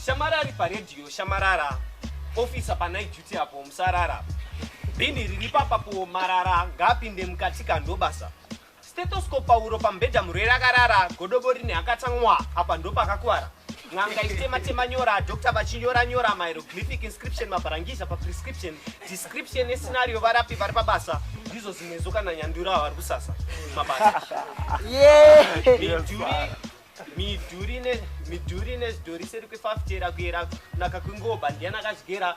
Shamara ari paredhiyo shamarara ofisa panight duty apo musarara bhini riri papapo marara ngaapinde mukati kandobasa stetoskopauro pambhedha murwere akarara godobo rine akatamwa apa ndopakakuvara N'anga ichitema-tema nyora, doctor vachinyora-nyora mahieroglyphic inscription, mabharangiza paprescription, description nescenario, varapi vari pabasa, ndizvo zvimwe zvo kana nyandura vari kusasa mabasa. Midhuri nezvidhori seri kwefafitera kuyera kunaka kwengoba, ndiani akazvigera?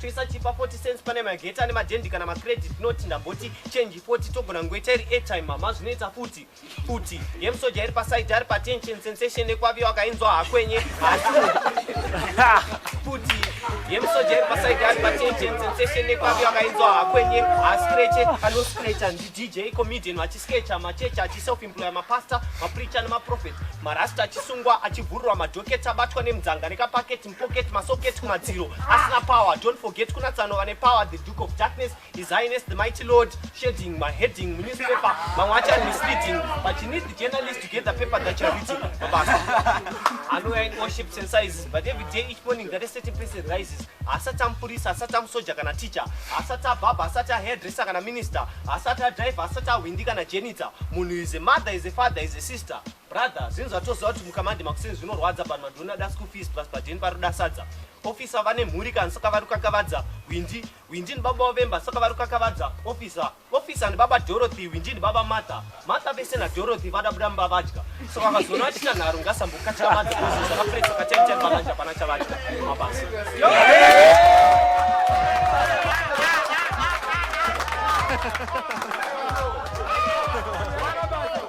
toisa chipa 40 cents pane magate ane madendi kana macredit note ndamboti change 40 togona ngoita iri airtime mama zvinoita futi futi yemusoja iri paside ari patension sensation ekwaviyo akainzwa hakwenye asi futi yemusoja iri paside ari patension sensation ekwaviyo akainzwa hakwenye ascreche anoscrecha ndidj comedian vachiskecha macheche achiself employer mapastor mapreacher nemaprofet marasta achisungwa achivhururwa madhoketi abatwa nemudzanga nekapaketi pocket masocket kumadziro asina power don't forget kuna tsano vane power the duke of darkness his highness the mighty lord shading maheading munewspaper mamwe acho ari misleading but you need the journalist to get the paper that you're reading mabasa anouya in all shapes and sizes but every day each morning that a certain person rises asati amupurisa asati amusoja kana teacher asati abhabha asati ahairdresser kana minister asati adriver asati ahwindi kana jenitsa munhu is a mother is a father is a sister Brother, zvinhu zvatoziva kuti mukamandi makuseni zvinorwadza panhu vanhu vanoda school fees plus padheni paroda sadza. Officer vane mhuri kana saka vari kukakavadza Windi. Windi ndibaba wavemba saka vari kukakavadza officer. Officer ndibaba Dorothy, Windi ndibaba Martha. Martha vese naDorothy vada buda mumba vadya. So vakazoona vachita nharo ngasambokatira madzi kuzi zvakapresa kachaita pavadya pana chavadya mabasa. Yeah!